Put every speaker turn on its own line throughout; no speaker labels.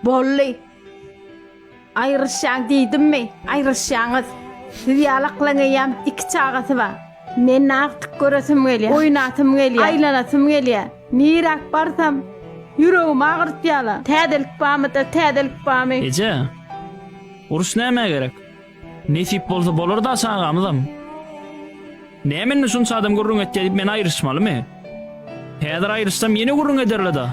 Bolly. Aýryşýaň diýdimmi, aýryşýaňyz. Siz ýalaklaň eýýäm iki çagasy bar. Men agtyk göresim gelýär. Oýnasym gelýär. Aýlanasym gelýär. Niräk barsam, ýüregimi agyrtýarlar. Täzelik barmy-da, täzelik barmy? Eje, uruş nämä gerek? Nesip bolsa bolar-da çagamyzam. Näme indi şunça adam gürrüň etýär diýip men aýryşmalymy? Häzir aýryşsam ýene gürrüň ederle-da.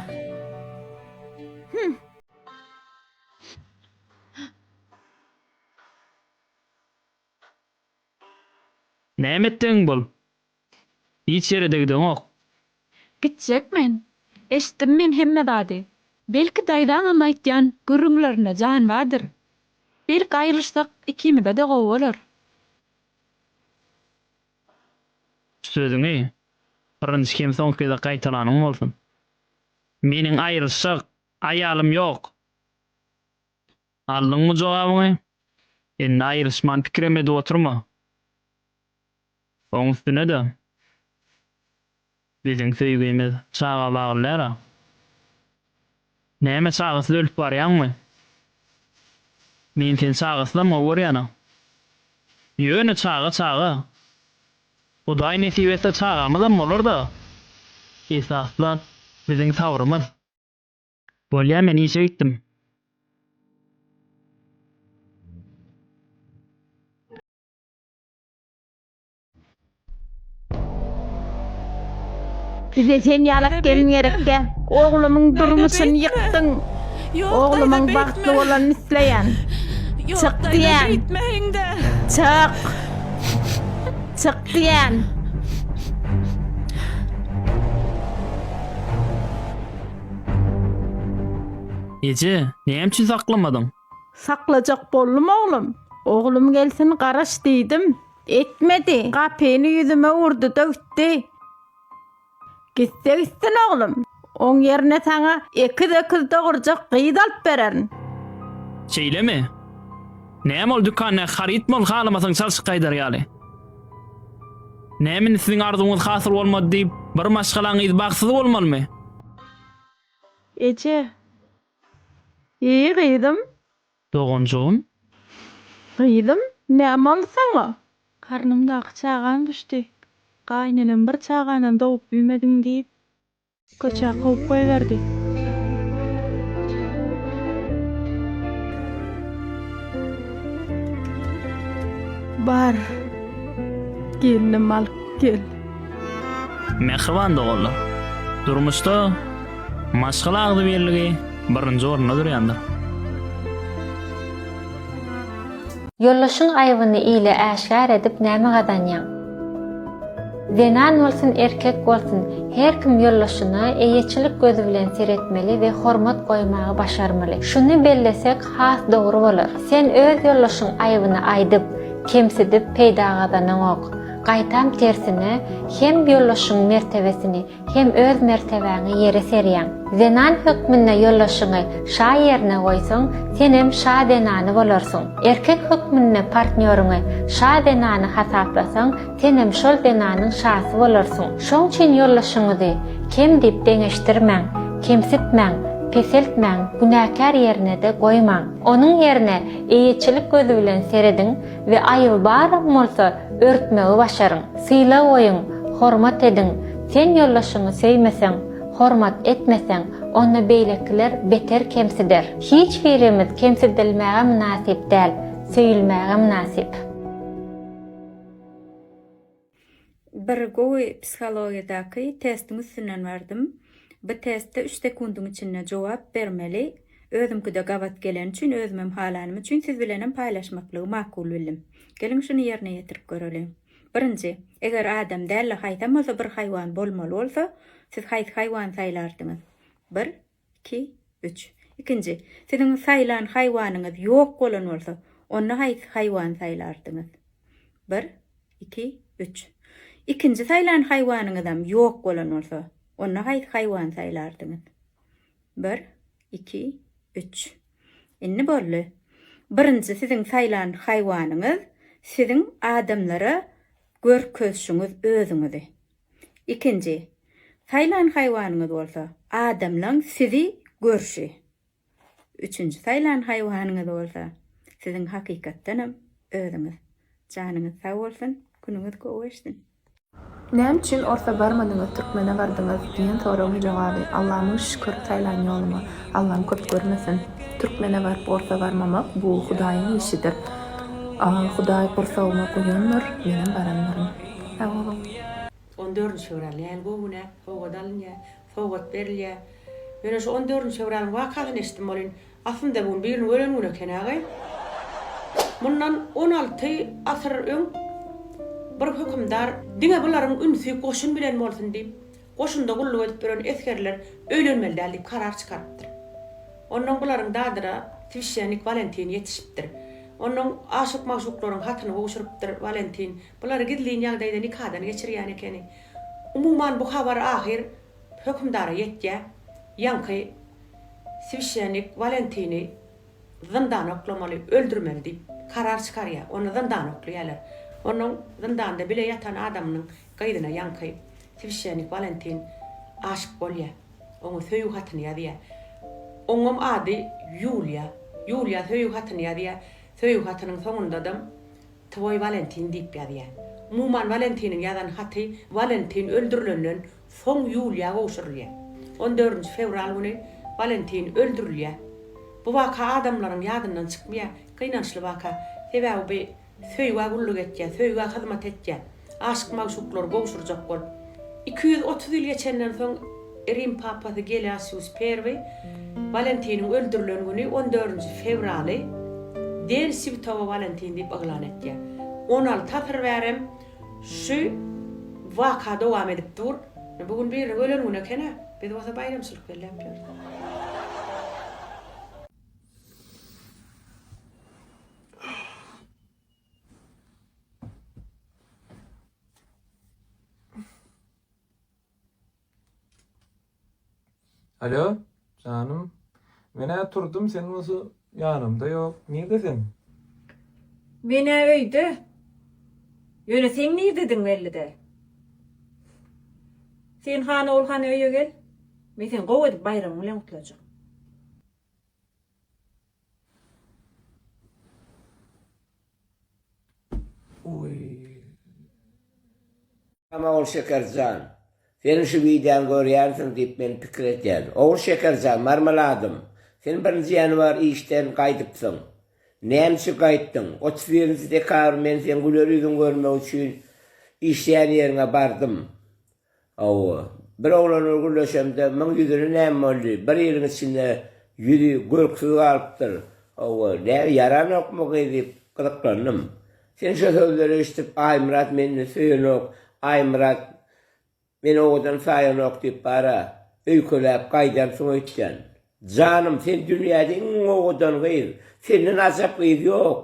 Näme etdigiň bol. Hiç ýere-de gideňok. Gitjek men. Eşitdim men hemme zady. Belki daýzaňam aýtýan gürrüňlerinde jan bardyr. Belki aýrylyşsak ikimize-de gowy bolar. Sözüňi birinji hem soňky gez-ä gaýtalanyň bolsun. Meniň aýrylyşjak aýalym ýok. Aldyňmy jogabyňy? Indi aýrylyşman pikirem edip oturma. Oň üstüne-de, biziň söýgimiz çaga bagly däl-a. Näme çagasyz ölüp barýaňmy? Men seni çagasyzam gowy görýän-a. Ýöne çaga çaga. Hudaý nesip etse çagamyzam bolar-da. Esasda biziň sabrymyz. Bolýa men işe gitdim. Bize sen ýalak gelin gerek däl. Oglumyň durmuşyny ýykdyň. Oglumyň bagtly bolanyny isleýän. Çyk diýýän. Çyk! Çyk diýýän. Eje, näme üçin saklamadyň? Saklajak boldum oglum. Oglum gelsin garaş diýdim. Etmedi. Gapyny ýüzüme urdy-da gitdi. Gitse gitsin oglum. Oň ýerine saňa ekiz öküz dogurjak gyz alyp bererin. Şeýlemi? Näme ol dükanda harytmy ol halamasaň çalşyp gaýdar ýaly? Näme indi siziň arzuwyňyz hasyl bolmady diýip, bir maşgalaň gyzy bagtsyz bolmalymy? Eje. Eý gyzym, Doganjygym. Gyzym, näme boldy saňa? Garnymdaky çagam düşdi. Gaýynenem bir çaganam dogup bilmediň diýip, köçä kowup goýberdi. Bar, gelnim alyp gel. Mähriban doganlar! Durmuşda maşgala agzybirligi birinji orunda durýandyr. Ýoldaşyň aýbyny ile äşgär edip näme gazanýaň? Zenan bolsun, erkek bolsun, her kim ýoldaşyna eýeçilik gözi bilen seretmeli we hormat goýmagy başarmaly. Şuny bellesek has dogry bolar. Sen öz ýoldaşyň aýbyny aýdyp, kemsidip peýda gazanaňok. Gaýtam tersine, hem ýoldaşyňyň mertebesini, hem öz mertebäňi ýere serýäň. Zenan hökmünde ýoldaşyňy şa ýerine goýsaň, senem şa zenany bolarsyň. Erkek hökmünde partnýoryňy şa zenany hasaplasaň, senem şol zenanyň şasy bolarsyň. Şoň üçin ýoldaşyňyzy kem diýip deňeşdirmäň, kemsitmäň, peseltmäň, günäkär ýerine-de goýmaň. Onuň ýerine eýeçilik gözi bilen serediň, we aýyl baram bolsa örtmegi başaryň. Sylag goýuň, hormat ediň, sen ýoldaşyňy söýmeseň, hormat etmeseň, onda beýlekiler beter kemsider. Hiç birimiz kemsidilmäge mynasyp däl, söýülmäge mynasyp. Bir gowy psihologiýadaky testiň üstünden bardym. Bu testde üç sekundyň içinde jogap bermeli. Özümki-de gabat geleni üçin, özümem halanym üçin siz bilenem paýlaşmaklygy makul bildim. Geliň şuny ýerine ýetirip göreliň. Birinji, eger adam däl-de haýsam bolsa bir haýwan bolmaly bolsa, siz haýsy haýwany saýlardyňyz? Bir, Iki, üç. Ikinji, Siziň saýlan haýwanyňyz ýok bolan bolsa, onda haýsy haýwany saýlardyňyz? Bir, iki, üç. Ikinji saýlan haýwanyňyzam ýok bolan bolsa, onda haýsy haýwany saýlardyňyz? Bir, iki, üç. Indi boldy. Birinji siziň saýlan haýwanyňyz siziň adamlara görkezşiňiz özüňizi. Ikinji, saýlan haýwanyňyz bolsa, adamlaň sizi görşi. Üçünji, saýlan haýwanyňyz bolsa, siziň hakykatdanam özüňiz. Janyňyz sag bolsun, günüňiz gowy geçsin. Näme üçin orsa barmadyňyz türkmene bardyňyz diýen soragyň jogaby Alla müň şükür saýlan ýoluňa Allam köp görmesin türkmene baryp orsa barmamak bu hudaýyň işidir Hudaý gursagyma guýandyr menem barandyryn. Sag boluň. On dördünji fewral nähili gowy gün-ä! Sowgat alynýar, sowgat berilýär. Men oşo on dördünji fewralyň wakasyny eşitdim welin, aslynda bu gün biriniň ölen güni eken agaý. Mundan on alty asyr öň bir hökümdar diňe bularyň ünsi goşun bilen bolsun diýip, goşunda gulluk edip ýören esgerler öýlenmeli däl diýip karar çykarypdyr. Onnoň bularyň dadyra swişşennik Walentin ýetişipdir. Onnoň aşyk-magşuklaryň hatyny gowşurypdyr Walentin. Bulary gizlin ýagdaýda nikadan geçirýän ekeni. Umuman bu habar ahyr hökümdara ýetýär. Ýaňky swişenik Walentini zyndana oklamaly, öldürmeli diýip, karar çykarýar. Ony zyndana oklaýarlar. Onuň zyndanda bile ýatan adamynyň gyzyna ýaňky swişenik Walentin aşyk bolýar. Oňa söýgi hatyny ýazýar. Oňam ady Ýuliýa. Ýuliýa söýgi hatyny ýazýar. Söýgi hatynyň soňundadam Twoý Walentin diýip ýazýar. Umuman Walentiniň ýazan haty Walentin öldürilenden soň Ýuliýa gowşurylýar. On dördünji fewral güni Walentin öldürilýär. Bu waka adamlaryň ýadyndan çykmaýar. Gynançly waka. Sebäbi bu söýgä gulluk etýär, söýgä hyzmat etýär. aşyk-magşuklar gowşurjak bolup. Iki ýüz otuz ýyl geçenden soň Rim papasy Gelasius I Walentiniň öldürilen güni on dördünji fewraly Den Swtogo Walentin diýip yglan etýär. On alty asyr bärem şu waka dowam edip dur. Bu gün biriniň ölen güni eken-ä. Biz bolsa baýramçylyk belläp ýörüs. Alo, janym. Men-ä turdum, sen bolsa ýanymda ýok. Nirde sen? Men-ä öýde. Ýöne sen nirdediň belli-de. Sen hany ol hany öýe gel. Men seni gowy edip baýramyň bilen gutlajak. Salam Ogul Şekerjan. Seniň şu wideoňy görýänsiň diýip men pikir edýän. Ogul Şekerjan, Marmeladym, sen birinji ýanwar işden gaýdypsyň. Näme üçin gaýtdyň? Otuz birinji dekabr men seň güler ýüzüňi görmek üçin işleýän ýeriňe bardym. Hawa, bir oglanyň gürleşemde müň ýüzüne näme boldy, bir ýylyň içinde ýüzi görksiz galypdyr. Hawa, näme, ýaranokmy gyz diýip, gyzyklandym. Sen şo sözleri eşidip, Aýmyrat meni söýenok, Aýmyrat meni owadan saýanok diýip bar-a, öýkeläp gaýdansyň öýtýän. Janym, sen dünýäde iň owadan gyz, senden ajap gyz ýok.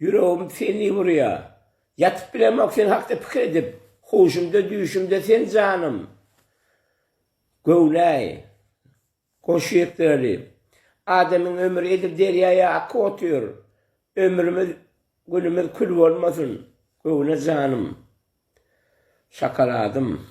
Ýüregim seni urýar. Ýatyp bilemok sen hakda pikir edip, Huşumda, düýşümde sen janym. Göwneý. Goş ýekdeli. Adamyň ömri edil derýaýa akyp otyr. Ömrümiz, günümiz kül bolmasyn, göwne janym. Şokoladym.